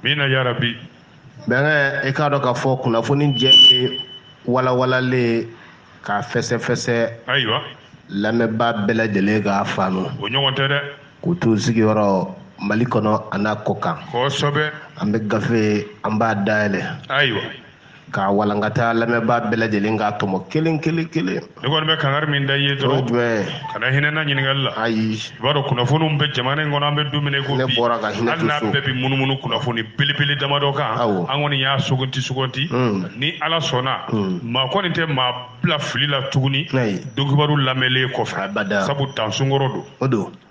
mina yarabi bɛnkɛ i k'a dɔn k'a fɔ kunnafoni jɛlen walawalalen k'a fɛsɛfɛsɛ ayiwa lamɛnbaa bɛɛ lajɛlen k'a faamu o ɲɔgɔn tɛ dɛ k'u t'u sigiyɔrɔ mali kɔnɔ an'a kɔ kan kosɛbɛ an bɛ gafe an b'a dayɛlɛ ayiwa k'a walankata lamɛnbaa bɛɛ lajɛlen k'a tɔmɔ kelen kelen kelen ne kɔni bɛ kangari min da i ye dɔrɔn jumɛn kana hinɛ n na ɲininkali la ayi i b'a dɔn kunnafoniw bɛ jamana in kɔnɔ an bɛ don min na i ko bi ne bɔra ka hinɛ hali n'a bɛɛ bɛ munumunu kunnafoni belebele damadɔ kan awɔ an kɔni y'a sugandi sugandi hmm. ni ala sɔnna hmm. maa kɔni tɛ maa bila fili la tuguni dokibaru lamɛnlen kɔfɛ sabu dansunkɔrɔ don o don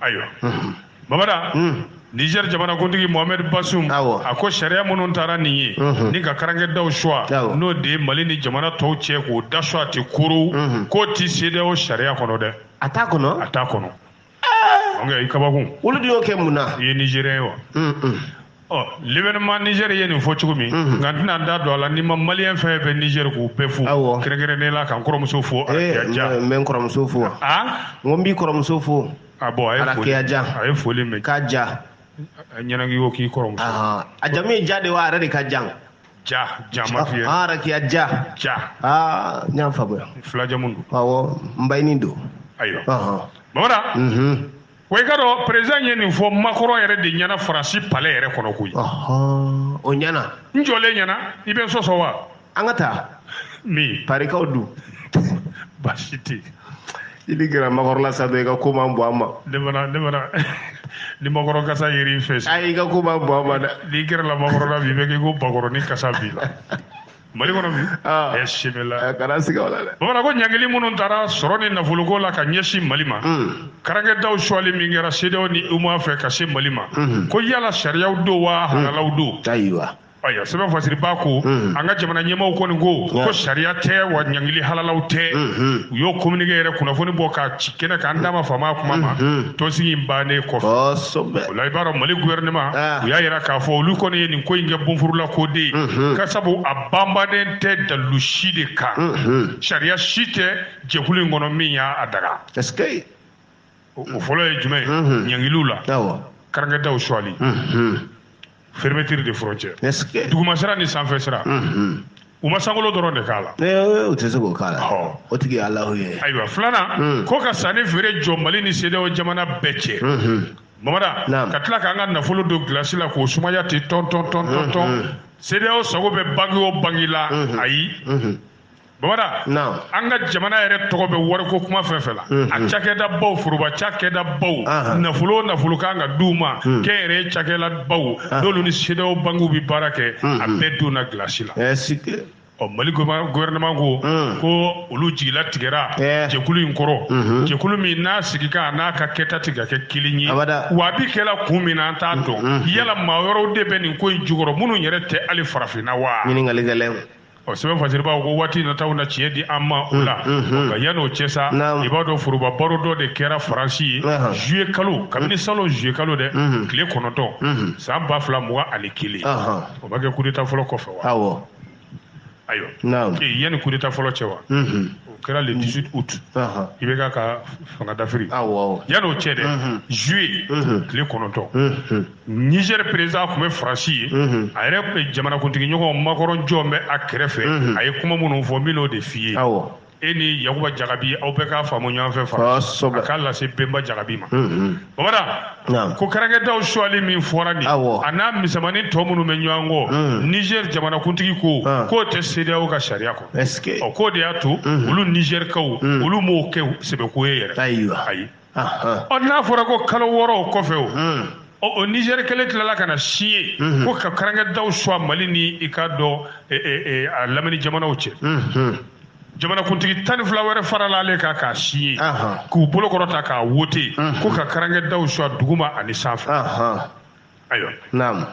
ayiwa bamada Niger jamanakuntigi Mohamed Bazoum a ko sariya minnu tara nin ye ni ka karankɛdaw suwa n'o de ye Mali ni jamana tɔw cɛ k'o da suwa tɛ koro k'o tɛ CEDEAO sariya kɔnɔ dɛ a t'a kɔnɔ a t'a kɔnɔ i kabakun olu de y'o kɛ mun na i ye Nigérien ye wa ɔ L'Événement Niger ye nin fɔ cogo min nka n tɛna da don a la n'i ma maliyɛn fɛn fɛn bɛ nizɛri k'u bɛɛ fo kɛrɛnkɛrɛnnen la ka n kɔrɔmuso fo arakiya ja n bɛ n kɔrɔmuso fo n ko n b'i kɔrɔmuso fo ah bon a ye foli a ye foli mɛn k'a ja ɲɛnagi ko k'i kɔrɔmuso a jamu ye ja de wa a yɛrɛ de ka jan ja ja ma f'i ye arakiya ja ja aa n y'a faamuya fila jamu don awɔ n bayini don ayiwa bamada Wa i ka dɔn perezidan ye nin fɔ Macron yɛrɛ de ɲɛna faransi palɛ yɛrɛ kɔnɔ koyi o ɲɛna n jɔlen ɲɛna i bɛ sɔsɔ wa an ka taa min parikaw dun baasi tɛ i ni gɛrɛ Macron la sa i ka ko man bɔ an ma ne mana ne mana ni Macron kasa ye i fɛ sa i ka ko man bɔ an ma dɛ n'i gɛrɛla Macron la bi i bɛ k'i ko bakɔrɔni kasa b'i la mali kɔnɔ bi ah. ɛ simila eh, kana siga o la dɛ bamada ko ɲangili minnu tara sɔrɔ ni nafoloko la ka ɲɛsin mali ma hmm. karankɛdaw suwali min kɛra CEDEAO ni UEMOA fɛ ka se mali ma hmm. ko yala sariyaw don wa hmm. halalaw don ayiwa ayiwa sɛbɛn fasiribaa ko an ka jamana ɲɛmaaw kɔni ko ko sariya tɛ wa ɲangili halalaw tɛ u y'o communiqué yɛrɛ kunnafoni bɔ ka ci kɛnɛ kan an da ma faama kuma ma mhm. tɔnsigi in bannen kɔfɛ o la i b'a dɔn mali gouvernement ah. u y'a yira k'a fɔ olu kɔni ye nin ko in kɛ bonfurula ko de ye mhm. k'a sabu a banbannen tɛ dalilu si de kan mhm. sariya si tɛ jɛkulu in kɔnɔ min y'a a daga o fɔlɔ ye jumɛn ɲangiliw la karankɛdaw suwali fermeture de frontière duguma sira ni sanfɛ sira u ma sankolo dɔrɔn de k'a la u tɛ se k'o k'a la o tigi ye alahu ye ayiwa filanan ko ka sanni feere jɔ mali ni CEDEAO jamana bɛɛ cɛ bamada ka tila k'an ka nafolo don gilasi la k'o sumaya ten tɔn tɔn tɔn tɔn tɔn CEDEAO sago bɛ banki o banki la ayi Bamada an ka jamana yɛrɛ tɔgɔ bɛ wariko kuma fɛn fɛn la a cakɛda baw foroba cakɛda baw nafolo nafolo kan ka d'u ma kɛnyɛrɛye cakɛla baw n'olu ni CEDEAO bankiw bɛ baara kɛ a bɛɛ donna gilasi la ɔ mali gouvernement ko ko olu jigi latigɛra jɛkulu in kɔrɔ jɛkulu min n'a sigikan n'a ka kɛta tɛ ka kɛ kelen ye wa a bɛ kɛ la kun min na an t'a dɔn yala maa wɛrɛw de bɛ nin ko in jukɔrɔ minnu yɛrɛ tɛ ali farafinna wa ɔ sɛbɛn fasiribaaw ko waati nataw na tiɲɛ di an ma o la nka yanni o cɛ sa i b'a dɔn foroba baro dɔ de kɛra faransi ye zuye kalo kabini salon zuye kalo dɛ tile kɔnɔntɔn san ba fila mugan ani kelen o ma kɛ kudeta fɔlɔ kɔfɛ wa ayiwa yanni kudeta fɔlɔ cɛ wa o kɛra le 18 août IBK ka fanga dafiri yanni o cɛ dɛ zuye tile kɔnɔntɔn Niger président tun bɛ Faransi ye, unhun, a yɛrɛ jamanakuntigi ɲɔgɔn Macron jɔlen bɛ a kɛrɛfɛ, unhun, a ye kuma minnu fɔ n bɛn'o de f'i ye, awɔ, e ni Yakuba Jagabi aw bɛɛ k'a faamu ɲɔgɔn fɛ Faransi, kosɛbɛ, a k'a lase Bɛnba Jagabi ma, unhun, Bamada, ko karankɛdaw suwali min fɔra nin ye, awɔ, a n'a misɛnmanin tɔ minnu bɛ ɲɔgɔn kɔ, unhun, Niger jamanakuntigi ko k'o tɛ CEDEAO ka sariya kɔnɔ, est ce que, ɔ k'o de y'a to olu Nizɛrikaw olu m'o kɛ sɛbɛko ye yɛrɛ, ayiwa, ayi. ɔ n'a fɔra ko kalo wɔɔrɔ o kɔfɛ o hmm. o nizɛri kelen tilala ka na signer hmm. ko ka karankɛdaw suwa mali ni i ka dɔ e, e, e, a lamini jamanaw cɛ hmm, jamanakuntigi tan ni fila wɛrɛ farala ale kan k'a signer k'u bolo kɔrɔta k'a wote ko ka karankɛdaw suwa duguma ani sanfɛ ayiwa naamu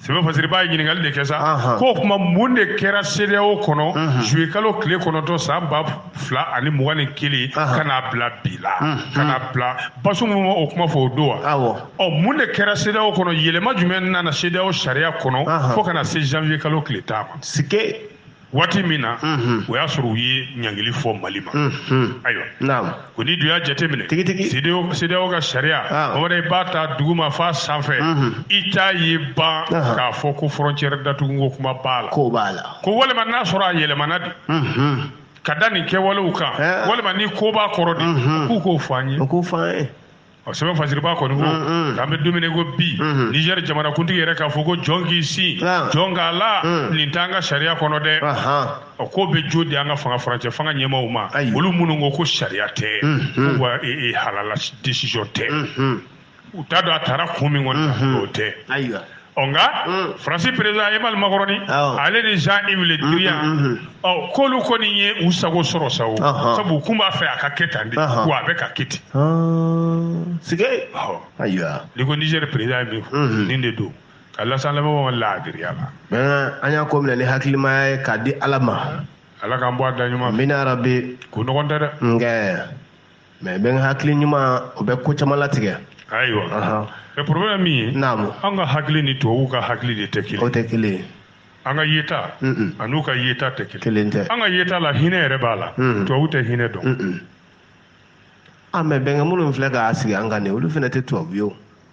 sɛbɛn fasiribaa ye ɲininkali de kɛ sa ko kuma mun de kɛra CEDEAO kɔnɔ zuye kalo tile kɔnɔntɔn san ba fila ani mugan ni kelen ka n'a bila bi la ka n'a bila Bazoum ma o kuma fɔ o don wa ɔ mun de kɛra CEDEAO kɔnɔ yɛlɛma jumɛn nana CEDEAO sariya kɔnɔ fo ka na se janvier kalo tile tan ma sike waati min na o y'a sɔrɔ u ye ɲangili fɔ mali ma ayiwa ko n'i dun y'a jateminɛ CEDEAO ka sariya Bamada i b'a ta duguma f'a sanfɛ i t'a ye ban k'a fɔ ko frontière datuguko kuma b'a la ko walima n'a sɔrɔ a yɛlɛmana de ka da nin kɛwalew kan walima ni ko b'a kɔrɔ de k'u k'o fɔ an ye O sɛbɛn fasiribaa kɔni ko k'an bɛ don min i ko bi nizɛri jamanakuntigi yɛrɛ k'a fɔ ko jɔn k'i sin jɔn k'a la nin t'an ka sariya kɔnɔ dɛ o ko bɛ jo di an ka fanga furancɛ fanga ɲɛmaaw ma olu minnu ko ko sariya tɛ ko wa halala desisɔn tɛ u t'a dɔn a taara kun min kɔni o tɛ ɔ nka mm. faransi perezida emmanuel macroni ale ni jean yves le drian mm, mm, ɔ k'olu kɔni ye u sago sɔrɔ sa o sabu u kun b'a fɛ a ka kɛ tan de wa a bɛ ka kɛ ten ah, sige ayiwa n'i ko niger perezida ye min fɔ nin de don ka lasa lamɛnbagaw laadiriya la an y'a ko minɛ ni hakilimaya ye k'a di ala ma ala k'an bɔ a da ɲuman amiina yarabi ko nɔgɔn tɛ dɛ nkɛ mais bɛnkɛ hakili ɲuman o bɛ ko caman latigɛ ayiwa mais problème min ye naamu an ka hakili ni tubabuw ka hakili de tɛ kelen o tɛ kelen ye an ka yeta an'u ka yeta tɛ kelen kelen tɛ an ka yeta la hinɛ yɛrɛ b'a la tubabu tɛ hinɛ dɔn a mais bɛnkɛ minnu filɛ k'a sigi an kan nin olu fana tɛ tubabu ye o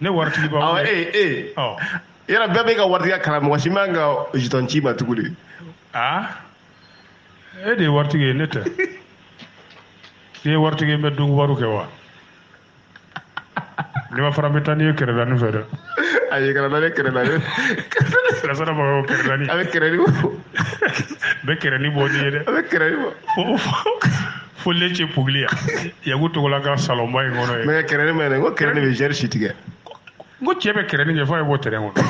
ne waritigiba awɔ ee ee ɔ yɔrɔ bɛɛ bɛ ka waritigiya kalan mɔgɔ si man ka jeton ci ma tugu de aa e de ye waritigi ye ne tɛ i ye waritigi ye n bɛ donkubaru kɛ wa n'i ma fara n bɛ taa n'i ye kɛrɛdani fɛ dɛ a ye kana ne kɛrɛ la ne sirasara b'a fɔ kɛrɛdani a bɛ kɛrɛni bɔ n bɛ kɛrɛni bɔ n'i ye dɛ a bɛ kɛrɛni bɔ fo fo fo lecce puglia yagu togola ka salonba in kɔnɔ yen mais kɛrɛni ma ko kɛrɛni bɛ zɛri si tigɛ n ko cɛ bɛ kɛrɛni kɛ fo a ye bɔ tɛrɛn kɔnɔ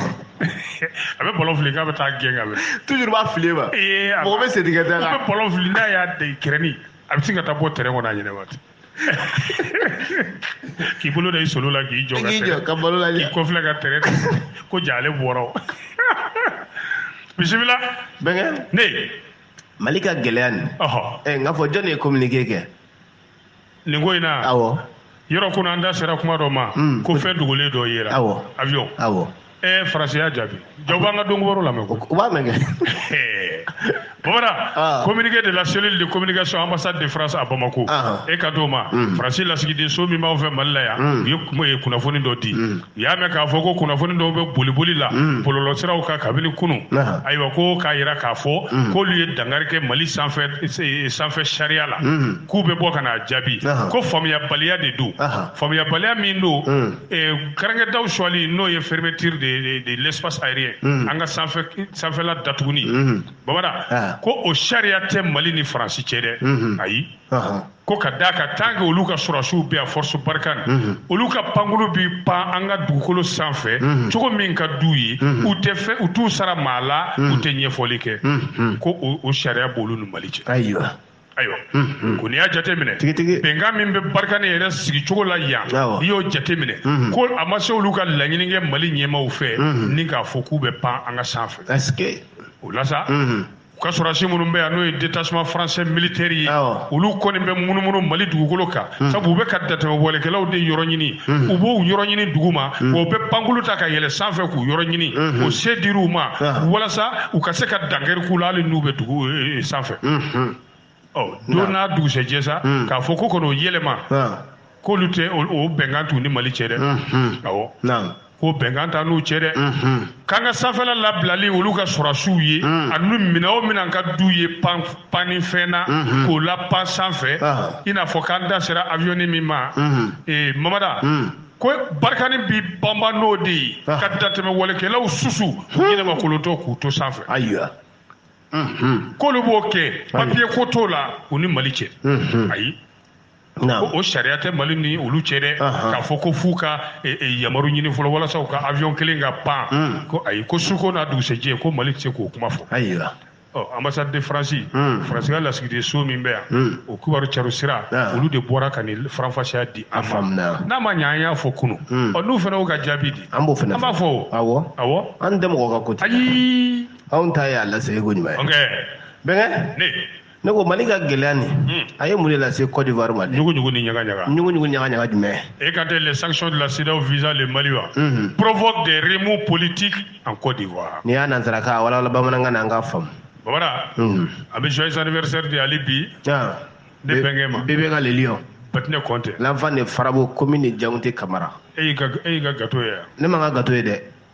a bɛ balɔn fili k'a bɛ taa gɛn ka bɛ toujours b'a fili ma mɔgɔ bɛ setigɛ da la a bɛ balɔn fili n'a y'a da kɛrɛni a bɛ se ka taa bɔ tɛrɛn kɔnɔ a ɲɛnɛ waati k'i bolo da i solo la k'i jɔ ka tɛrɛn ka balo la k'i kɔfilɛ ka tɛrɛn ko jaa ale bɔra o bisimila bɛnkɛ ne mali ka gɛlɛya nin eh, n k'a fɔ jɔn de ye communiqué kɛ nin ko in na awɔ yɔrɔ kunu an da sera kuma dɔ ma hmm. ko fɛn dogolen dɔ yera awɔ avion awɔ eh, faransi y'a jaabi jaa u b'an ka donkɔrɔ lamɛn ko u b'a mɛn kɛ bamanan ah. communiqué de la cellule de communication ambassade de france à bamako ah. e ka d'o ma hmm. faransi lasigidenso min b'anw fɛ mali la yan hmm. u ye kunnafoni dɔ di u y'a mɛn k'a fɔ ko kunnafoni dɔw bɛ boliboli la mm. bɔlɔlɔsiraw kan kabini kunu ayiwa ko k'a jira k'a fɔ mm. k'olu ye dankari kɛ mali sanfɛ sariya la mm. k'u bɛ bɔ ka n'a jaabi ko faamuyabaliya de don faamuyabaliya min don eh, kɛrɛnkɛdaw sɔgɔli n'o ye fermeture de l'espace aérien an ka sanfɛla datuguni babada ko o sariya tɛ mali ni faransi cɛ dɛ ayi ko ka d'a kan tant que olu ka sɔrɔsiw bɛ yan force barkhane mhm. olu ka pankuru bi pan an ka dugukolo sanfɛ mhm. cogo min ka d'u ye mhm. u tɛ fɛ u t'u sara maa la u tɛ ɲɛfɔli kɛ ko o sariya b'olu ni mali cɛ ayiwa ayiwa ko n'i y'a jateminɛ bɛnkan min bɛ barkhane yɛrɛ sigicogo la yan n'i y'o jateminɛ ko a ma se olu ka laɲini kɛ mali ɲɛmaaw fɛ ni k'a fɔ k'u bɛ pan an ka sanfɛ o la sa u ka sɔrɔsi minnu bɛ yan n'o ye détachement français militaire ye olu kɔni bɛ munumunu Mali dugukolo kan hmm. sabu u bɛ ka datɛmɛwalekɛlaw de yɔrɔ ɲini hmm. u b'u yɔrɔ ɲini duguma hmm. wa u bɛ pankulu ta ka yɛlɛ sanfɛ k'u yɔrɔ ɲini o se dir'u ma walasa u ka se ka dankari k'u la hali n'u bɛ dugu eh, eh, sanfɛ ɔ don n'a dugusɛjɛ sa hmm. k'a fɔ ko kɔni o yɛlɛma k'olu tɛ o bɛnkan t'u ni mali cɛ dɛ awɔ ko bɛnkan t'an n'u cɛ dɛ k'an ka sanfɛla labilali olu ka sɔrɔsiw ye ani minɛn o minɛn ka d'u ye pan panni fɛn na k'o lapan sanfɛ i n'a fɔ k'an da sera awiyɔni min ma ee mamada ko barikani b'i banban n'o de ye ka datɛmɛwalekɛlaw susu k'u ɲɛnɛma kolotɔ k'u to sanfɛ ayiwa k'olu b'o kɛ papiye ko t'o la u ni mali cɛ ayi ko o sariya tɛ mali ni olu cɛ dɛ k'a fɔ ko f'u ka e, e, yamaru ɲini fɔlɔ walasa u ka avion kelen ka pan hmm. ko ayi ko su ko n'a dugusɛjɛ ko mali tɛ se k'o kuma fɔ ayiwa ɔ ambassade de france hmm. faransi ka lasigiden so min bɛ yan hmm. o kibaru caro sira ah. olu de bɔra ka nin faranfasiya di an ma n'a ma ɲɛ an y'a fɔ kunun ɔ n'u fana y'u ka jaabi di an b'a fɔ awɔ an tɛ mɔgɔ ka ko ayi anw ta ye a laseko ɲuman ye okay. bɛnkɛ ne ne ko mali ka gɛlɛya nin hmm. a ye mun de lase cote d'ivoire ma ɲugu ɲugu ni ɲaga ɲaga ɲugu ɲugu ɲaga ɲaga jumɛn et quand les sanctions de la CEDEAO visant le mali wa hmm. provoquent des remous politiques en cote d'ivoire n'i y'a nansarakan walawala bamanankan na an k'a faamu babara hmm. an bɛ joyeux anniversaire de hali bi ah. ne bɛnkɛ ma bebe ka le lion batinɛ konte l'enfant de farabo commune de Diangounté Camara e y'i ka e y'i ka gato ye ne ma n ka gato ye dɛ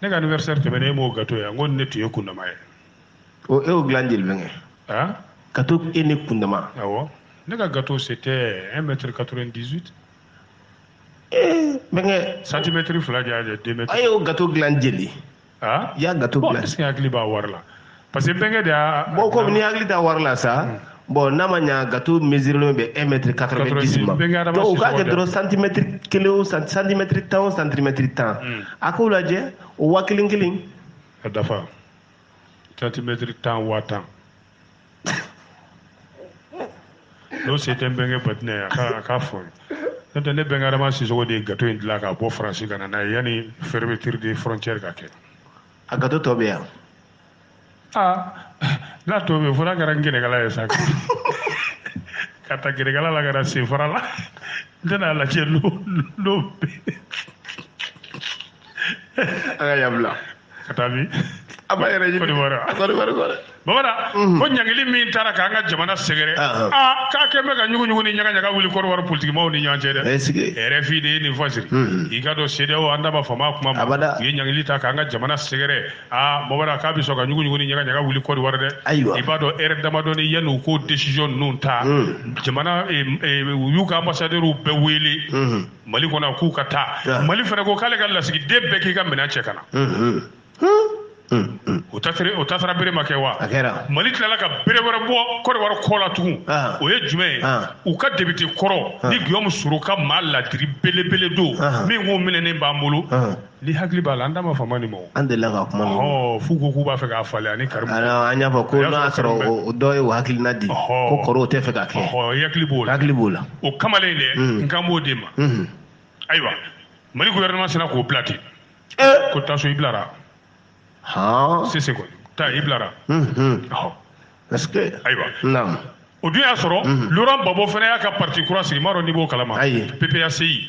ne ka anniversaire tɛmɛna e m'o gato ye n ko ne tun ye kundama ye o e y'o dilan jeli bɛnkɛ a gato e ne kundama awɔ ne ka gato c'était 1 mètre 98 ee bɛnkɛ centimètre fila de y'a jɛ 2 mètres a y'o gato dilan jeli a y'a gato bon dilan est ce que hakili b'a wari la parce que bɛnkɛ de y'a bon comme n'i hakili t'a wari la sa hmm. bon n'a ma ɲa gato mesirilen bɛ 1 mètre 90 ma donc u k'a kɛ dɔrɔn santimɛtiri kelen o santimɛtiri tan o santimɛtiri tan hmm. a k'o lajɛ o wa kelen kelen ka dafa santimɛtiri tan wa tan n'o se tɛ n bɛnkɛ batinɛ a ka a k'a fɔ n'o tɛ ne bɛnkɛ adama sisogo de ye gato in dilan ka bɔ faransi ka na n'a ye yanni fermeture de frontière ka kɛ a gato tɔ bɛ yan n'a tɔ bɛ fo n'a kɛra n gɛnɛkala ye sa ka ta gɛnɛkala la ka na senfara la n tɛna lajɛ n'o n'o bɛ an ka yan bila ka taa min a b'a yɛrɛ ɲini Kɔdiwari kɔrɔ babara mhm. ko ɲangili min tara k'an ka jamana sɛgɛrɛ aa k'a kɛn bɛ ka ɲuguɲugu ni ɲagaɲaga wuli Kɔdiwari politikimaw ni ɲɔgɔn cɛ dɛ RFI de ye nin fɔ siri mhm. i k'a dɔn CEDEAO an da ma fama a kuma ma u ye ɲangili ta k'an ka jamana sɛgɛrɛ aa babara k'a bɛ sɔn ka ɲuguɲugu ni ɲagaɲaga wuli kɔrɔwari dɛ ayiwa i b'a dɔn ɛrɛ damadɔni yanni u k'o desiziyɔn ninnu ta hmm. jamana eh, eh, u y'u ka ambasadɛriw bɛɛ wele hmm. mali kɔnɔ k'u ka taa ah. mali fana ko k'ale ka lasigiden bɛɛ k'i ka minɛn cɛ ka na hmm, o tasara bere ma kɛ wa mali tilala ka bere wɛrɛ bɔ kɔrɔwari kɔ la tugun ah. o ye jumɛn ye ah. u ka depite kɔrɔ nin giyɔmu soro ka maa laadiri belebele dɔ min tun minɛnen b'an bolo N'i hakili b'a la an da ma fama nin ma an delila ka kuma fɔ ko k'u b'a fɛ k'a falen ani karimu an y'a fɔ ko n'a sɔrɔ o dɔ ye hakilina di ko kɔrɔ tɛ fɛ ka kɛ hakili b'o hakili b'o la o kamalen dɛ n kan b'o de ma ayiwa mali gouvernement sinna k'o bila ten ko taa so i bilara sise taa i bilara ayiwa o dun y'a sɔrɔ loran babo fana y'a ka pati kura sigi n m'a dɔn n'i b'o kalama ayi PPACI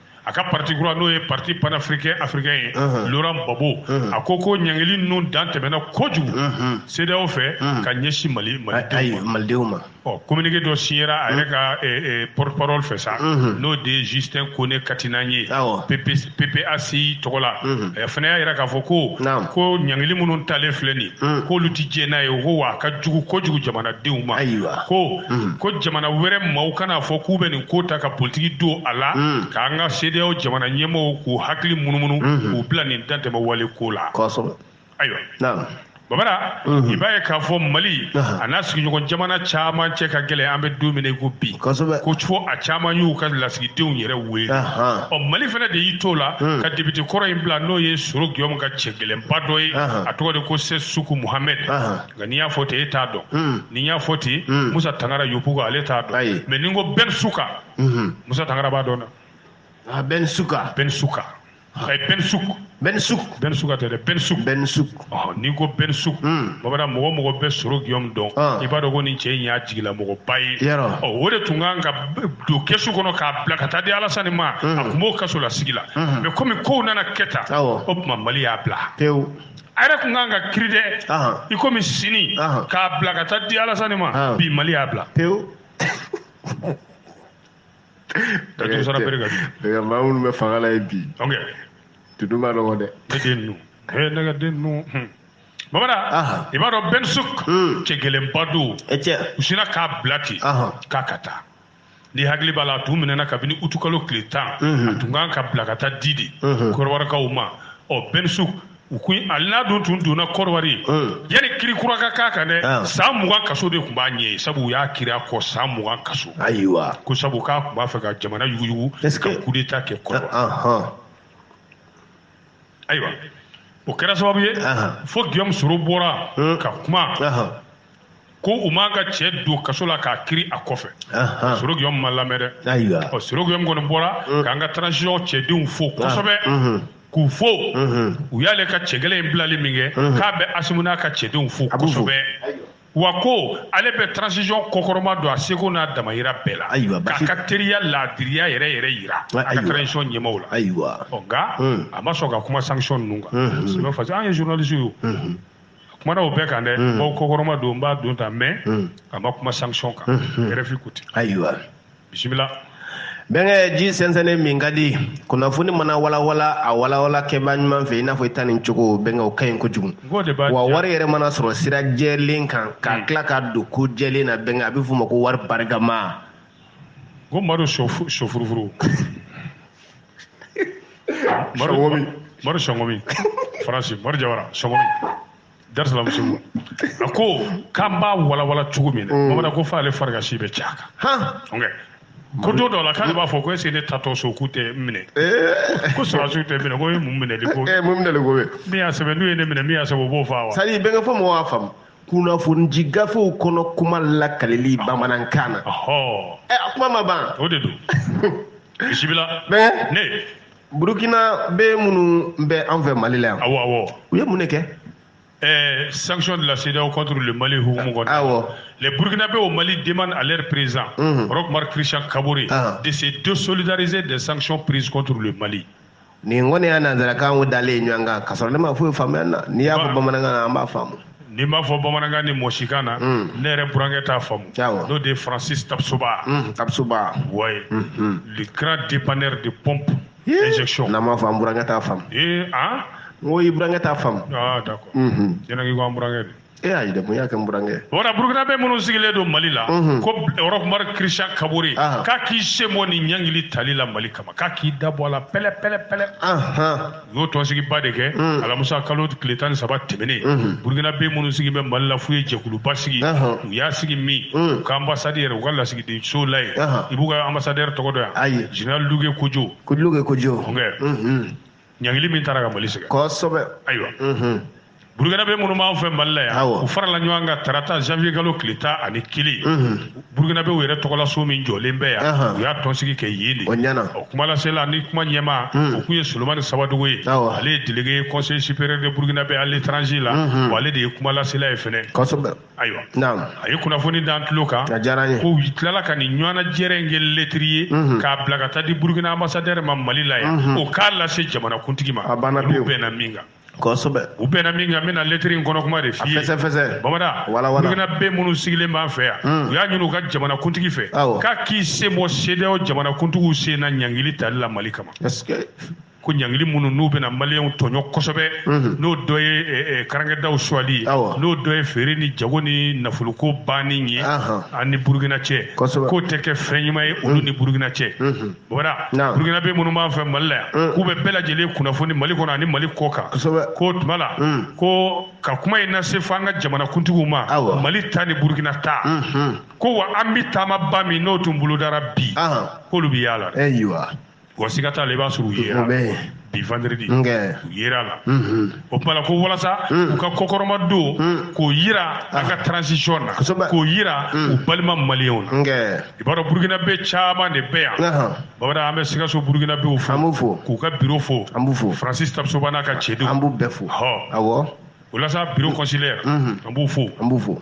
a ka parti kura n'o ye parti panafricain africain ye Laurent Gbagbo a ko ko ɲangili ninnu dan tɛmɛna kojugu CEDEAO fɛ ka ɲɛsin Mali Malidenw ma ɔ communiqué dɔ signera a yɛrɛ ka porte parole fɛ sa n'o de ye Justin Kone Katinan ye PPACI tɔgɔ la a fana y'a yira k'a fɔ ko ko ɲangili minnu talen filɛ nin ye k'olu tɛ diɲɛ n'a ye ko wa a ka jugu kojugu jamanadenw ma. ko mm. ko jamana wɛrɛ maaw kana fɔ k'u bɛ nin ko ta ka politiki don a la mm. k'an ka sedeyaw jamana ɲɛmɔgɔw k'u hakili munumunu mm-hmm. k'u bila nin dantɛmɛ wale ko la ayiwa babara mm-hmm. i b'a ye k'a fɔ mali a n'a sigiɲɔgɔn jamana caman cɛ ka gɛlɛn an bɛ don min na i ko bi ko fo a caman y'u ka lasigidenw yɛrɛ wele ɔ mali fana de y'i t'o la mm. ka depite kɔrɔ in bila n'o ye soro giyɔmu ka cɛ gɛlɛnba dɔ ye a tɔgɔ de ko sɛsi suku muhamɛd nka n'i y'a fɔ ten e t'a dɔn hmm. ni n y'a fɔ ten hmm. musa tangara yopugɔn ale t'a dɔn mɛ ni n ko bɛn suka hmm. musa tangara b'a dɔn dɛ ah, bɛn suka bɛn suka ah. ayi bɛn suk bɛn suk bɛn suka tɛ dɛ bɛn suk bɛn suk ah, n'i ko bɛn suk babara mɔgɔ o mɔgɔ bɛ soro giyɔmu dɔn i b'a dɔn ko nin cɛ in y'a jigilamɔgɔba ye ɔ o de tun kan ka don kɛsu kɔnɔ k'a bila ka taa di alasani ma a tun b'o kasolasigi la mɛ komi kow nana kɛ tan o tuma mali y'a bila pewu a yɛrɛ tun kan ka kiri dɛ i komi sini k'a bila ka taa di alasani ma bi mali y'a bila pewu maa minnu bɛ fanga la ye bi tudu ma nɔgɔ dɛ ne den ninnu ee ne ka den ninnu hmm. babara i b'a dɔn bɛn suk hmm. cɛ gɛlɛnba don u sinna k'a bila ten k'a ka taa n'i hakili b'a la a tun minɛna kabini utukalo tile tan a tun kan ka bila ka taa di de kɔrɔwarikaw ma ɔ bɛn suk u ko ali n'a dun tun donna kɔrɔwari yanni kiri kura ka k'a kan dɛ san mugan kaso de tun b'a ɲɛ ye sabu u y'a kiri a kɔ san mugan kaso ayiwa ko sabu k'a tun b'a fɛ ka jamana yuguyugu ka kudeta kɛ kɔrɔwari ayiwa o kɛra sababu ye fo giyɔmu soro bɔra hmm. ka kuma ko u m'a ka cɛ don kaso la k'a kiri a kɔfɛ soro giyɔmu ma lamɛn dɛ ɔ soro giyɔmu kɔni bɔra hmm. k'an ka transition cɛdenw fo kosɛbɛ hmm. k'u fo u y'ale ka cɛ gɛlɛn in bilali min kɛ k'a bɛ asimu n'a ka cɛdenw fo kosɛbɛ wa ko ale bɛ transition kɔkɔrɔma don a seko n'a damayira bɛɛ la ayiwa k'a ka teriya laadiriya yɛrɛ yɛrɛ yira a ka transition ɲɛmaaw la ayiwa ɔ nka hmm. a ma sɔn ka kuma sanction ninnu kan hmm. sinon parce que an ye journaliste ye hmm. a kumana o bɛɛ kan dɛ bawo kɔkɔrɔma don n b'a don tan mais a ma kuma sanction kan RFI ko ten ayiwa bisimila bɛnkɛ ji sɛnsɛnnen min ka di kunnafoni mana walawala a walawala kɛba ɲuman fɛ i n'a fɔ i ta nin cogo bɛnkɛ o ka ɲi kojugu wa wari yɛrɛ mana sɔrɔ sira jɛlen kan k'a hmm. tila ka don ko jɛlen na bɛnkɛ a bɛ f'o ma ko wari barikama ko madu sofurufuru madu sɔngɔmi faransi madu jawara sɔngɔmi darisalamu sugu a ko k'an b'a walawala cogo min na mm. bamanan ko f'ale farikasi bɛ caya kan ko don dɔ la k'ale b'a fɔ ko est-ce que ne taatɔ so k'u tɛ minɛ eh. ko sɔrɔdasiw tɛ minɛ ko ye mun minɛli ko ye eh, mun minɛli ko ye min y'a sɛbɛn n'u ye ne minɛ min y'a sɛbɛn o b'o faa wa c'est à dire bɛnkɛ fo mɔgɔw k'a faamu kunnafoni gafew kɔnɔ kuma lakalili ah. bamanankan na ɛ eh, a kuma ma ban o de don bisimila ne burukinabɛ minnu bɛ an fɛ mali la yan awɔ awɔ u ye mun de kɛ Euh, sanction de la CEDEAO contre le Mali hukumu kɔnɔ. Awɔ. Les Burkinabés au Mali demandent à leur président, Mhm. Roch Marc Christian Kaboré, Ah. de se désolidariser des sanctions prises contre le Mali. nin kɔni y'a nanzarakan o dalen ye ɲɔgɔn kan k'a sɔrɔ ne ma foyi faamuya nin na n'i y'a fɔ Ba- bamanankan na an b'a faamu N'i m'a fɔ bamanankan ni mɔsikan na ne yɛrɛ burankɛ t'a faamu n'o de ye Francis Tapsoba Tapsoba ouais le grand dépanneur de pompe injection n'a m'a fɔ an burankɛ t'a faamu ee aa n ko i burankɛ t'a faamu d'accord e ne ko an burankɛ de e a de mun y'a kɛ burankɛ o burukinabɛ minnu sigilen don mali la ko Roch Marc Christian Kaboré k'a k'i sen bɔ nin ɲangili tali la mali kama k'a k'i da bɔ a la pɛlɛ-ɛɛrɛ-ɛɛrɛ u y'o tɔnsigiba de kɛ mm. alamusa kalo tile tan ni saba tɛmɛnen mm-hmm. burukinabɛ minnu sigi bɛ mali la f'u ye jɛkuluba sigi u y'a sigi min mm. u ka anbasadi yɛrɛ u ka lasigidenso la yen i b'u ka ambassadeur tɔgɔ dɔn wa ayi général Lougué Kodjo Lougué Kodjo ɲangili min tara ka mali sɛgɛn kosɛbɛ ayiwa mm-hmm. burukinabɛ minnu b'an fɛ mali la yan u farala ɲɔgɔn kan tarata janvier kalo tile tan ani kelen burukinabɛw yɛrɛ tɔgɔlaso min jɔlen bɛ yan u y'a tɔnsigi kɛ yen de o kumalasela ni kuma ɲɛma o kun ye solomani sabadogo ye ale ye délégué conseil supérieur des burukinabɛ à l'étranger la wa ale de ye kumalasela ye fɛnɛ ayiwa a ye kunnafoni d'an tulo kan ko u tilala ka nin ɲɔgɔnnajɛrɛ in kɛ lɛtiri ye k'a bila ka taa di burukina ambassadeur ma mali la yan o k'a lase jamanakuntigi ma olu bɛnna min kan kosɛbɛ u bɛnna min kan n bɛna lɛtiri in kɔnɔ kuma de f'i ye fɛsɛfɛsɛ bamada burukinabɛ minnu sigilen b'an fɛ yan hmm. u y'a ɲini u ka jamanakuntigi fɛ k'a k'i sen bɔ CEDEAO jamanakuntigiw sen na ɲangili tali la mali kama ko ɲangili minnu n'u bɛna maliyɛnw tɔɲɔ kosɛbɛ hmm. n'o dɔ ye eh, eh, karankɛdaw suwali ye n'o dɔ ye feere ni jago ni nafolokow banni ye an ni burukina cɛ k'o tɛ kɛ fɛn ɲuman ye olu hmm. ni burukina cɛ Bamada burukinabɛ minnu b'an fɛ mali la yan mm. k'u bɛ bɛɛ lajɛlen kunnafoni mali kɔnɔ ani mali kɔ kan k'o tuma la mm. ko ka kuma in nase fo an ka jamanakuntigiw ma mali ta ni burukina ta mm-hmm. ko wa an bɛ taamaba min n'o tun bolodara bi k'olu bɛ y'a la wa siga t'a la i b'a sɔrɔ u ye bi vendredi u yer'a la o tuma la ko walasa u ka kɔkɔrɔmadon k'o yira an ka transition na k'o yira u balima maliyenw na i b'a dɔn burukinabɛ caman de bɛ yan bamada an bɛ sikaso burukinabɛw fo k'u ka biro fo Francis Tapsoba n'a ka cɛdenw an b'u bɛɛ fo hɔ walasa bureau consulaire an b'u fo an b'u fo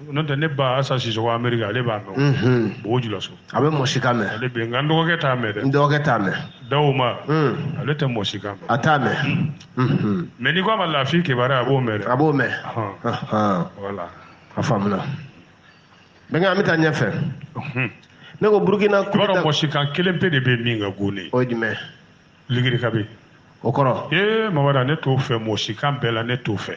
n'o tɛ ne ba Asa Sisoko Ameriki ale b'a mɛn, unhun, Bobojulaso, a bɛ mɔsikan mɛn, ale bɛ yen nka n dɔgɔkɛ t'a mɛn dɛ, n dɔgɔkɛ t'a mɛn, Dawoma, un, ale tɛ mɔsikan mɛn, a t'a mɛn, unhun, mais n'i k'a ma Lafi Kebare a b'o mɛn dɛ, a b'o mɛn, ɔhɔn, ɔhɔn, voilà, a faamuna, bɛnkɛ an bɛ taa ɲɛfɛ, unhun, ne ko Burukina coup d'Etat, i b'a dɔn mɔsikan kelen pe de bɛ yen min ka go ne ye, o ye jumɛn ye? Ligiri kabe, o kɔrɔ? Ee Bamada ne t'o fɛ mɔsikan bɛɛ la ne t'o fɛ.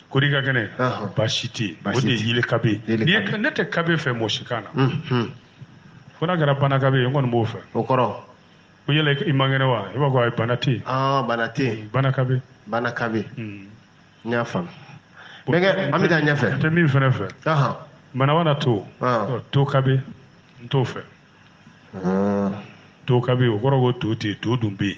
Kori ka kɛnɛ baasi tɛ yen o de ye yeli kabe ne tɛ kabe fɛ mɔsikan na ko n'a kɛra bana kabe ye n kɔni b'o fɛ o kɔrɔ ko yala i man kɛnɛ wa i b'a fɔ ayi bana tɛ bana tɛ bana kabe bana kabe n y'a faamu an bɛ taa ɲɛfɛ n tɛ min fana fɛ manawana to to kabe n t'o fɛ to kabe o kɔrɔ ko to tɛ to dun bɛ yen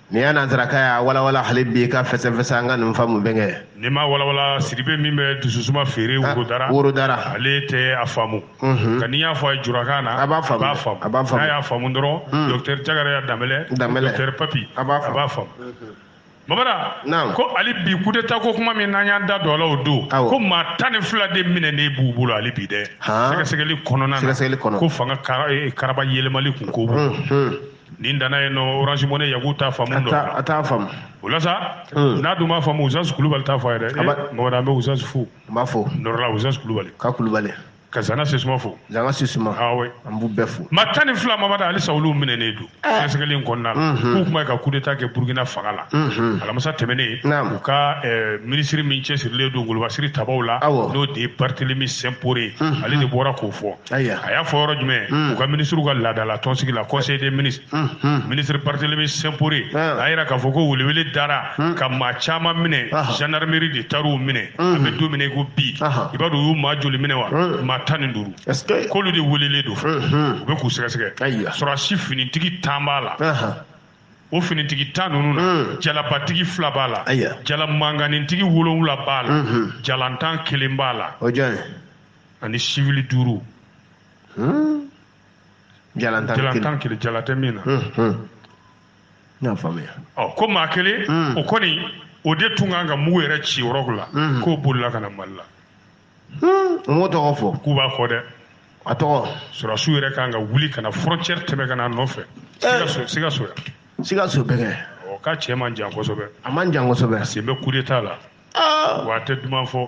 nin ye nansarakan y'a walawala hali bi k'a fɛsɛfɛsɛ an ka nin faamu bɛnkɛ n'i m'a walawala sidibe min bɛ dususuma feere ah, worodara worodara ale tɛ a faamu mhm. nka n'i y'a fɔ a ye jurakan na a b'a faamu a b'a faamu n'a y'a faamu dɔrɔn mhm. docteur Jagara Danbɛlɛ Danbɛlɛ docteur Papi a b'a faamu mhm. Bamada ko hali bi coup d'état ko kuma min n'an y'an da don a la o don ko maa tan ni fila de minɛnen b'u bolo hali bi dɛ sɛgɛsɛgɛli kɔnɔna na ko fanga karaba yɛlɛmali kun ko b'u nin danna yen nɔ orange money yaku t'a faamu dɔn a t'a faamu o la sa hmm. n'a dun m'a faamu usas kulubali t'a fɔ a ye dɛ mamada an bɛ usas fo n b'a fo nɔrɔla usas kulubali ka kulubali ka zana sisuma fo zana sisuma awe ah an b'u bɛɛ fo ma tan ni fila mamada halisa olu minɛnen don eh. sɛgɛsɛgɛli in kɔnɔna la mhm. k'u kuma ye ka kudeta kɛ burukina fanga la mhm. alamisa tɛmɛnen u ka eh, minisiri min cɛsirilen don golobasiri tabaw la n'o de ye barthélémy simporé mhm. ale de bɔra k'o fɔ a y'a fɔ yɔrɔ jumɛn hmm. u ka minisiriw ka laadala tɔnsigi la conseil des ministres hmm, hmm. minisiri barthélémy simporé a yira k'a fɔ ko welewele dara ka maa caman minɛ gendarmerie de taar'u minɛ an bɛ don min na i ko bi i b'a dɔn u y'u maa joli minɛ wa maa tan ni duuru k'olu de welelen don u bɛ k'u sɛgɛsɛgɛ sɔrɔdasi finitigi tan b'a la o finitigi tan ninnu na hmm. jalabatigi fila b'a la jala manganintigi wolonwula b'a la hmm, hmm. jalantan kelen b'a la ani sivili duuru hmm. jalantan kelen jalantan kelen jala tɛ min na hmm, hmm. n y'a faamuya ɔ ko maa kelen o kɔni o de tun kan ka mugu yɛrɛ ci yɔrɔ la k'o bolila ka na mali la u m'o tɔgɔ fɔ k'u b'a fɔ dɛ a tɔgɔ sɔrɔdasiw yɛrɛ kan ka wuli ka na frontière tɛmɛ ka na a nɔfɛ eh. sikaso yan sikaso bɛnkɛ ɔ k'a cɛ man jan kosɛbɛ a man jan kosɛbɛ sen bɛ coup d'état la ah. wa a tɛ duman fɔ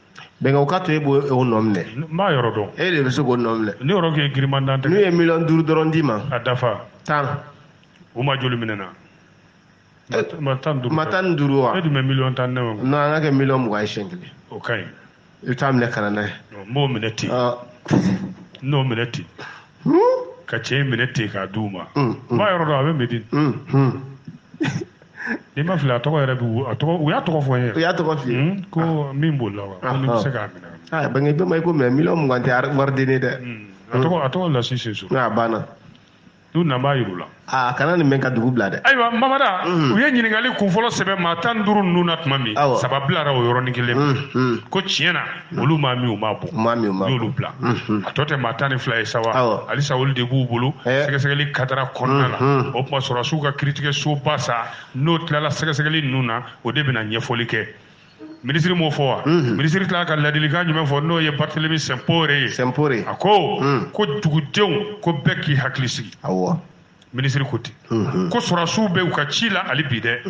bɛnkɛ o ka to e b'o o nɔ minɛ n b'a yɔrɔ dɔn e de bɛ se k'o nɔ minɛ ne yɔrɔ k'e giriman dan n'u ye miliyɔn duuru dɔrɔn d'i ma a dafa tan u ma joli minɛna Eh, ma tan ni duuru ma tan ni duuru wa e dun bɛ miliyɔn tan ni naani kɔnɔ. non an k'a kɛ miliyɔn mugan ye siɲɛ kelen o ka ɲi i bɛ t'a minɛ ka na n'a ye Ɔ, n b'o minɛ ten Ah, n n'o minɛ ten hmm, ka cɛ in minɛ ten k'a di u ma hmm, n b'a yɔrɔ dɔn a bɛ medini hmm, hmm. ni n ma fili a tɔgɔ yɛrɛ b'u a tɔgɔ u y'a tɔgɔ fɔ n ye u y'a tɔgɔ f'i ye hmm, ko ah. min b'o la wa ko n'i bɛ se k'a minɛ a ah, bɛnkɛ bɔ n ma i ko mɛ miliyɔn mugan tɛ wari denni dɛ hmm. a tɔgɔ a tɔgɔ lasi seso a banna n'u nana n b'a yir'u la a ah, kana nin mɛn ka dugu bila dɛ ayiwa mamada hmm. u ye ɲininkali kunfɔlɔ sɛbɛn maa tan ni duuru ninnu na tuma min saba bilara o yɔrɔnin kelen ko tiɲɛ na olu maa min u m'a bɔ u y'olu bila a tɔ tɛ maa tan ni fila ye sa wa halisa olu de b'u bolo eh. sɛgɛsɛgɛli kadara kɔnɔna na o tuma sɔrɔdasiw ka kiritigɛ soba sa n'o tilala sɛgɛsɛgɛli ninnu na o de bɛna ɲɛfɔli kɛ minisiri m'o fɔ wa minisiri tilala ka ladilikan jumɛn fɔ n'o ye barthélémy simporé ye simporé a ko ko dugudenw ko bɛɛ k'i hakili sigi awɔ minisiri ko ten ko sɔrɔdasiw bɛ u ka ci la hali bi dɛ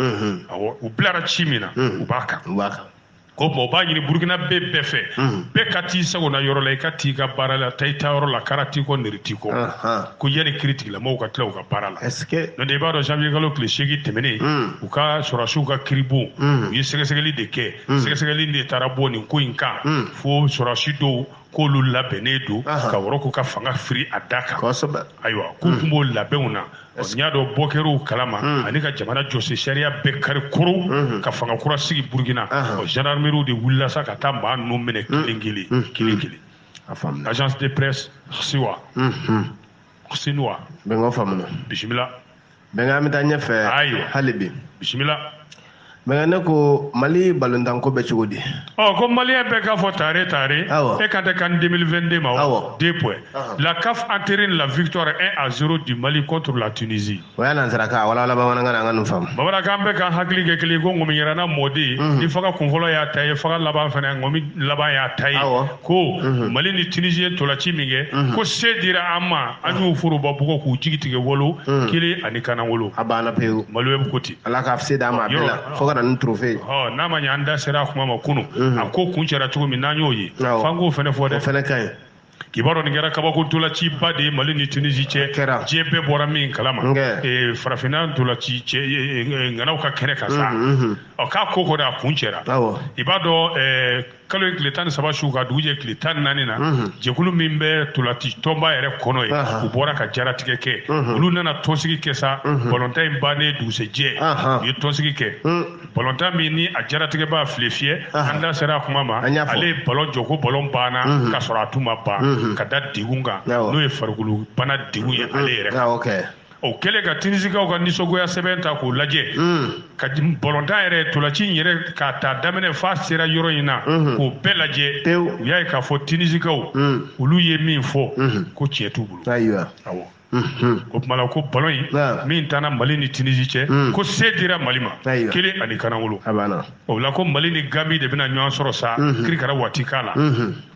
awɔ u bilara ci min na u b'a kan u b'a kan ko bon u b'a ɲini burukinabɛ bɛɛ fɛ bɛɛ ka t'i sagona yɔrɔ la i ka t'i ka baara la taa i taayɔrɔ la kara t'i kɔ nɛri t'i kɔ ko yanni kiri tigilamɔgɔw ka tila u ka baara la n'o tɛ i b'a dɔn janvier kalo tile seegin tɛmɛnen u ka sɔrɔdasiw ka kiribon u ye sɛgɛsɛgɛli de kɛ sɛgɛsɛgɛli de taara bɔ nin ko in kan fo sɔrɔdasi dɔw k'olu labɛnnen don ka wɔrɔku ka fanga firi a da kan ayiwa k'u hmm. tun b'o labɛnw na n y'a dɔn bɔ kɛr'u kalama hmm. ani ka jamana jɔsen sariya bɛɛ kari koro hmm. ka fanga kura sigi burukina ɔ gendarmeriw de wulila sa ka taa maa ninnu minɛ kelen kelen kelen kelen agence de presse siwa sinuwa bisimila bɛnkɛ an bɛ taa ɲɛfɛ ayiwa hali bi bisimila bɛnkɛ ne ko mali balontanko bɛ cogo di ɔ ko maliyɛn bɛɛ k'a fɔ tare tare e kan tɛ can 2022 ma wa deux points la caf entérine la victoire 1 à 0 du mali contre la tunisie o y'a nansarakan walawala bamanankan na an ka nin faamu bamanankan bɛɛ ka hakili kɛ kelen ko ŋɔmi yiranna mɔden ni faga kunfɔlɔ y'a ta ye faga laban fana ŋɔmi laban y'a ta ye ko mhm. mali ni tunisi ye tolaci min kɛ mhm. ko se dira an ma an y'u foroba bugɔ k'u jigi tigɛ wolo mhm. kelen ani kanawolo a banna pewu maliyɛnw ko ten ala ka se d'a ma a bɛɛ la fo ka na ni trofe ye n'a ma ɲɛ an da sera a kuma ma kunu a ko kuncɛra cogo min n'an y'o ye f'an k'o fɛnɛ fɔ dɛ o fɛnɛ ka ɲi k'i b'a dɔn nin kɛra kabako ntolaciba de ye mali ni tunisi cɛ diɲɛ bɛɛ bɔra min kalama eh, farafinna ntolaci cɛ eh, eh, ŋanaw ka kɛnɛ kan sa ɔ k'a ko kɔni a kuncɛra i b'a dɔn kalo in tile tan ni saba su ka dugu jɛ tile tan naani na jɛkulu min bɛ tolati tɔnba yɛrɛ kɔnɔ yen u bɔra ka jaratigɛ kɛ olu nana tɔnsigi kɛ sa balontan in bannen dugusɛjɛ u ye tɔnsigi kɛ balontan min ni a jaratigɛbaa filefiyɛ an da sera a kuma ma ale ye balon jɔ ko balon banna k'a sɔrɔ a tun ma ban ka da degun kan n'o ye farikolo bana degun ye ale yɛrɛ o kɛlen ka tinisikaw ka nisɔngoya sɛbɛn ta k'o lajɛ mm. ka balontan yɛrɛ tolaci in yɛrɛ k'a ta daminɛ f'a sera yɔrɔ in na mm-hmm. k'o bɛɛ lajɛ u y'a ye k'a fɔ tinisikaw mm. olu ye min fɔ mm-hmm. ko tiɲɛ t'u bolo awɔ mm-hmm. o tuma la ko balon in min tanna mali ni tinisi cɛ mm. ko se dira mali ma kelen ani kanawolo o la ko mali ni gambi de bɛna ɲɔgɔn sɔrɔ sa kirikara watita la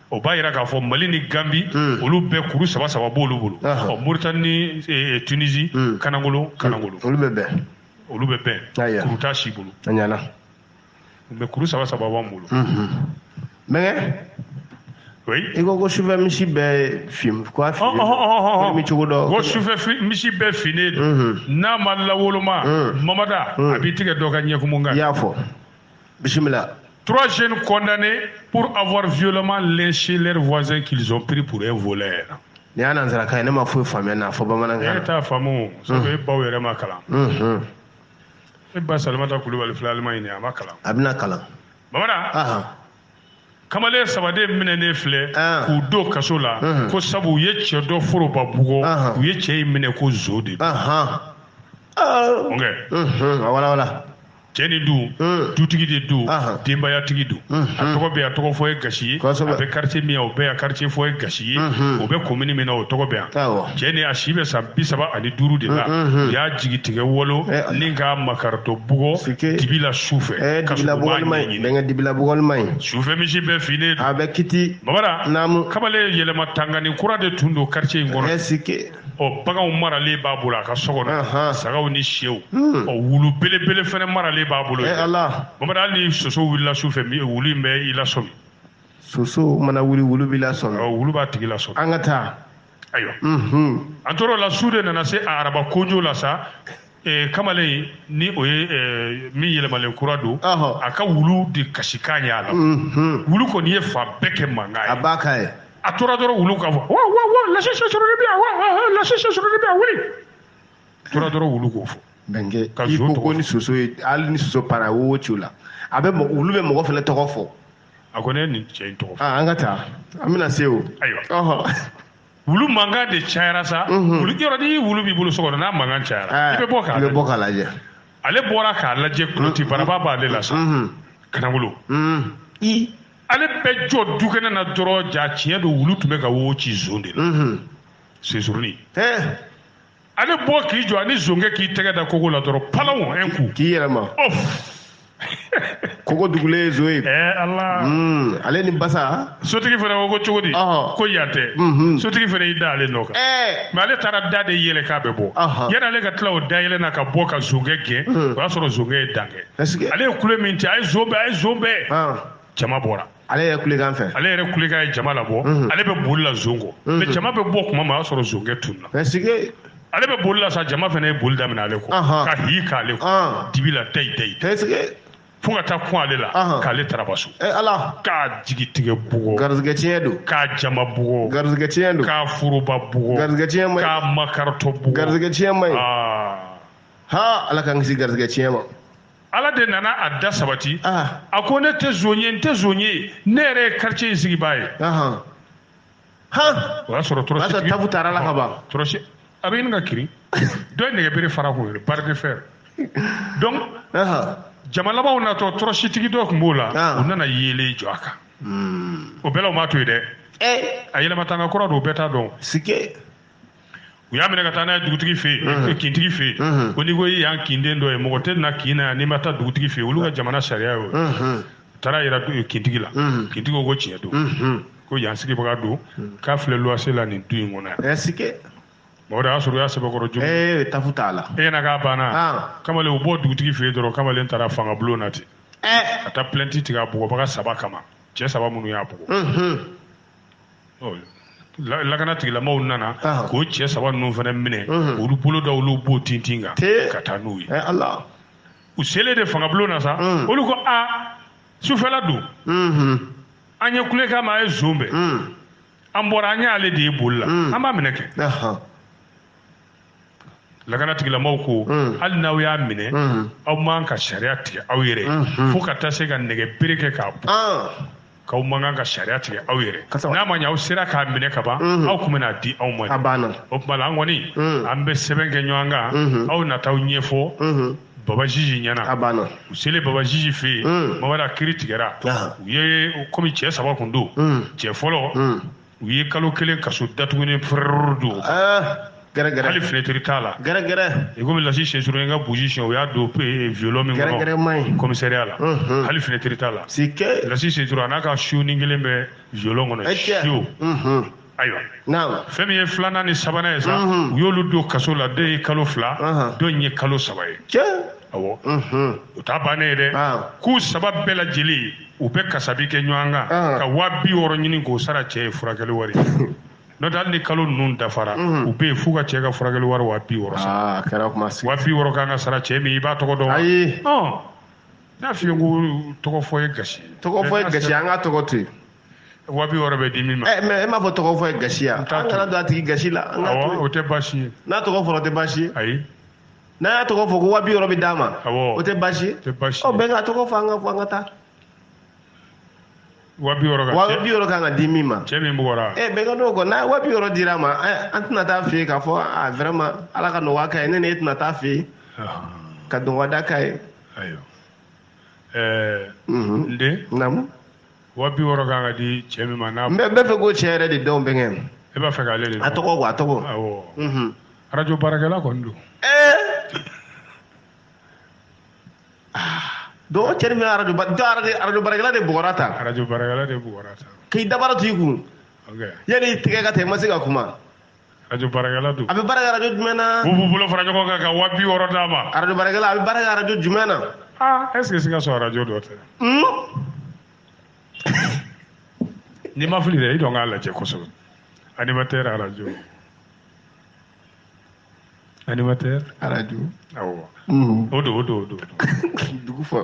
o b'a yira k'a fɔ mali ni ganbi hmm. olu bɛɛ kuru saba saba b'olu bolo ɔ moritani ni e, e, tunisi hmm. kanagolo hmm. kanagolo olu bɛ bɛn olu bɛ bɛn kuru t'a si bolo mɛ kuru saba saba b'an bolo bɛnkɛ i ko ko sufɛ misi bɛɛ fin quoi mi cogo dɔ ko sufɛ misi bɛɛ finnen don n'a ma lawoloma mamada a b'i tigɛ dɔ ka ɲɛkumu kan i y'a fɔ bisimila Trois jeunes condamnés pour avoir violemment lynché leurs voisins qu'ils ont pris pour un voleur. Nin y'a nansarakan ye ne ma foyi faamuya n'a fɔ bamanankan. E t'a faamu sabu e baw yɛrɛ ma kalan. E ba Salimata Kulubali filɛ Alimaɲi nin a ma kalan. A bɛna kalan. Mamada. kamalen saba de minɛnen filɛ k'u don kaso la ko sabu u ye cɛ dɔ foroba bugɔ u ye cɛ in minɛ ko zon de don. Ɔn kɛ. A walawala. cɛnin don hmm. dutigi de don denbayatigi don hmm. a tɔgɔ bɛ yan tɔgɔ fɔ ye gasi ye a bɛ quartier min o bɛ yan quartier fɔ ye gasi ye hmm. o bɛ commune min na o tɔgɔ bɛ yan cɛnin a si bɛ san bi saba ani duuru de la u y'a jigi tigɛ walon eh, ni k'a makaritɔ bugɔ dibi la su fɛ eh, ka sɔrɔ u b'a ɲɛɲini sufɛ misi bɛɛ finnen don a bɛ kiti bamada kamalen yɛlɛma tangani kura de tun don quartier in kɔnɔ eh, ɔ baganw maralen b'a bolo a ka so kɔnɔ sagaw ni syɛw hmm. ɔ wulu belebele fana maralen b'a bolo eh, bamada hali ni soso wulila su fɛ wulu in bɛ i lasɔmi soso mana wuli wulu b'i lasɔmi ɔ wulu b'a tigi lasɔmi an ka taa ayiwa an tora o la su de nana se araba kojo la sa Eh, kamalennin o ye eh, min yɛlɛmalen kura don a ka wulu de kasikan y'a la mhm. wulu kɔni ye fan bɛɛ kɛ mankan ye a b'a ka ye a tora dɔrɔn wulu ka fɔ wa wa wa lase sɔsɔrɔli bi yan wa wa wa lase sɔsɔrɔli bi yan wuli a tora dɔrɔn wulu k'o fɔ bɛnkɛ ka zon tɔgɔ ko ni soso ye hali ni soso panna wo wo ciw la a bɛ wulu bɛ mɔgɔ fana tɔgɔ fɔ a ko ne nin cɛ in tɔgɔ fɔ ah, an ka taa an bɛna se o ayiwa wulu mankan de cayara sa mhm. wulu yɔrɔ ni wulu b'i bolo so kɔnɔ n'a mankan cayara eh, i bɛ bɔ k'a lajɛ bɔ k'a lajɛ ale bɔra k'a lajɛ kuloti mhm. baraba b'ale la sa mhm. kanagolo ale bɛ jɔ dukɛnɛ na dɔrɔn jaa tiɲɛ don wulu tun bɛ ka wo ci zon de la sensurunin eh. ale bɔ k'i jɔ ani zonkɛ k'i tɛgɛ da kogo la dɔrɔn palaw un coup k'i yɛlɛma ɔf kogo dugulen ye zon ye ɛɛ ala Hmm, ale ni basa sotigi fana ko ko cogo di Ɔhɔ. ko yan tɛ Mhm. sotigi fana y'i da ale nɔ kan ɛɛ mais ale taara da de yɛlɛ k'a bɛ bɔ Ɔhɔ. yanni ale ka tila o da yɛlɛ na ka bɔ ka zonkɛ gɛn o y'a sɔrɔ zonkɛ ye dan kɛ est-ce que ale ye kule min ci a ye zon bɛn a ye zon bɛn Ɔn. jama bɔra ale yɛrɛ kulekan fɛ ale yɛrɛ kulekan ye jama labɔ mhm. ale bɛ boli la zon kɔ mhm. mais jama bɛ bɔ kuma min o y'a sɔrɔ zonkɛ tununna ale bɛ boli la sa jama fana ye boli daminɛ ale kɔ ka hi k'ale kɔ ah. dibi la dayi dayi fo ka taa kun ale la k'ale taraba so eh, ala k'a jigi tigɛ bugɔ garizigɛ tiɲɛ don k'a jama bugɔ garizigɛ tiɲɛ don k'a foroba bugɔ garizigɛ tiɲɛ man ɲi k'a makaritɔ bugɔ garizigɛ tiɲɛ man ɲi ah. ha ala k'an kisi garizigɛ tiɲɛ ma ala de nana a da sabati ah. a ko ne tɛ zon ye n tɛ zon ye ne yɛrɛ ye quartier in sigibaa ye o y'a sɔrɔ tɔrɔsitigi tabu taara la ka ban tɔrɔsi a bɛ ɲini ka kirin dɔ ye nɛgɛbere fara k'o ye barre de fer donc jama labanw natɔ tɔrɔsitigi dɔ tun b'u la ah. u nana yeelen jɔ a kan hmm. o bɛɛ la u m'a to yen dɛ eh. a yɛlɛma tanga kura don u bɛɛ t'a dɔn u y'a minɛ ka taa n'a ye dugutigi fɛ yen mhm. kintigi fɛ yen mhm. ko n'i ko i y'an kinden dɔ ye mɔgɔ tɛ na kin na yan n'i ma taa dugutigi fɛ yen olu ka mhm. jamana sariya y'o ye taara yira kintigi la kintigi ko ko tiɲɛ don ko yan sigibaga don k'a filɛ luwanse la nin du in kɔnɔ yan mɔgɔ de y'a sɔrɔ u y'a sɛbɛkɔrɔ jogin ee tafu t'a la e ɲɛna k'a banna ah. kamalen u bɔ dugutigi fɛ yen dɔrɔn kamalen taara fanga bulon na ten eh. ka taa plainte tigɛ a bugɔbaga saba kama cɛ saba minnu y'a bugɔ lakana tigilamaw nana k'o cɛ saba ninnu fana minɛ olu bolo da olu bo tintin kan ka taa n'u ye u selen de fangabulon na sa olu ko a sufɛla don an ye kulekan mɛn a ye zon bɛn an bɔra an y'ale de ye boli la an b'a minɛ kɛ lakana tigilamaw ko hmm. hali n'aw y'a minɛ hmm. aw man kan ka sariya tigɛ aw yɛrɛ hmm. fo ka taa se ka nɛgɛ bere kɛ k'a bugɔ ah. k'aw man kan ka sariya tigɛ aw yɛrɛ n'a ma ɲɛ aw sera k'a minɛ ka ban aw tun bɛn'a di anw ma o tuma la an kɔni an bɛ sɛbɛn kɛ ɲɔgɔn kan aw na taa a ɲɛfɔ baba jiji ɲɛna a banna u selen baba jiji fɛ yen mamada kiri tigɛra u ye komi cɛ saba kun don cɛ fɔlɔ u ye kalo kelen kaso datuguni fɛrɛrɛrɛ don ah, gɛrɛgɛrɛ hali fenetiri t'a la gɛrɛgɛrɛ i komi lasi sensoro ye n ka burusi siɲɛ u y'a don eh, violon min gɛrɛgɛrɛ ma ɲi kɔmisɛriya la mhm. hali fenetiri t'a la si kɛ lasi sensoro a n'a ka siyoni kelen bɛ violon kɔnɔ eh, siyo mhm. ayiwa fɛn min ye filanan ni sabanan ye sa mhm. u y'olu don kaso la dɔ ye kalo fila dɔ in ye kalo saba ye awɔ o t'a bannen ye dɛ ah. k'u saba bɛɛ lajɛlen u bɛ kasabi kɛ ɲɔgɔn kan ah. ka waa bi wɔɔrɔ ɲini k'o sara cɛ ye furakɛli wari n'o tɛ hali ni kalo ninnu dafara mhm. u bɛ yen f'u ka cɛ ka furakɛli wari waa bi wɔɔrɔ sara ah, waa bi wɔɔrɔ kan ka sara cɛ min i b'a tɔgɔ dɔn ayi n y'a f'i ye ko tɔgɔ fɔ ye gasi tɔgɔ fɔ ye gasi an ka tɔgɔ to yen waa bi wɔɔrɔ bɛ di min ma eh, mais e m'a fɔ tɔgɔ fɔ ye gasi ya an kana don a tigi gasi la an ka to o tɛ baasi ye n'a tɔgɔ fɔra o tɛ baasi ye ayi n'a y'a tɔgɔ fɔ ko wa bi wɔɔrɔ bɛ d'a ma o tɛ baasi ye ɔ bɛnkɛ a tɔgɔ fɔ an ka fɔ an ka taa wa bi wɔɔrɔ ka wa bi wɔɔrɔ kan ka di min ma cɛ min bugɔra ɛ bɛnkɛ n'o kɔ n'a wa bi wɔɔrɔ dir'a ma an tɛna taa a fɛ yen k'a fɔ a vraiment ala ka nɔgɔya k'a ye ne ni e tɛna taa a fɛ yen ka dɔgɔda k'a ye ayiwa ɛɛ n den naamu wa bi wɔɔrɔ kan ka di cɛ min ma n'a. n b'a fɛ k'o cɛ yɛrɛ de dɔn bɛnkɛ. e b'a fɛ k'ale de dɔn. a tɔgɔ quoi a tɔgɔ. awɔ. Mhm. arajo baarakɛla kɔni don. ɛɛ. Ah. donc cɛ min arajo arajo baarakɛla de bugɔra tan. arajo baarakɛla de bugɔra tan. k'i dabara to i kun. ok. yanni i tɛgɛ ka taa i ma se ka kuma. arajo baarakɛla don a bɛ baara kɛ arajo jumɛn na u b'u bolo fara ɲɔgɔn kan ka waa bi wɔɔrɔ d'a ma arajo baarakɛla a bɛ baara kɛ arajo jumɛn na aa est ce que Sikaso arajo dɔ tɛ Hmm? n'i ma fili dɛ i dɔn k'a lajɛ kosɛbɛ animatɛri arajo animateur radio awɔ mm. o don o don o don dugu fɔ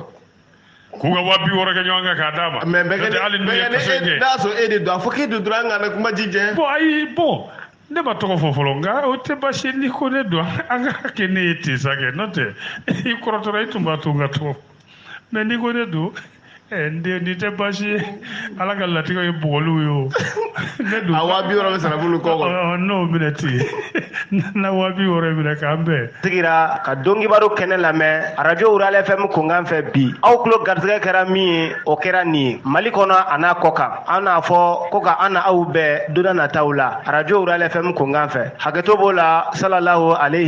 k'u ka waa bi wɔɔrɔ kɛ ɲɔgɔn kan k'a d'a ma mais bɛɛ kɛ hali n'u ye kaso kɛ n'a sɔrɔ e de don a fɔ k'e de don an kana kuma ji jɛ bon ayi bon ne ma tɔgɔ fɔ fɔlɔ nka o tɛ baasi n'i ko ne don an k'a kɛ ne ye ten sa kɛ n'o tɛ i kɔrɔtɔra i tun b'a to n ka tɔgɔ mais n'i ko ne don eh, n den nin tɛ baasi ye ala ka latigɛ ye bugɔliw ye o ne don a waa bi wɔɔrɔ bɛ sara bolo kɔ kɔnɔ Ɔ, n'o minɛ ten na waa bi wɔɔrɔ in minɛ k'an bɛn sigira ka donkibaru kɛnɛ lamɛn arajo rurale fm kunkan fɛ bi aw tulo garisɛgɛ kɛra min ye o kɛra nin ye mali kɔnɔ a n'a kɔkan an n'a fɔ ko ka an ni aw bɛn don nataw la arajo rurale fm kunkan fɛ hakɛto b'o la salalahu aleyhi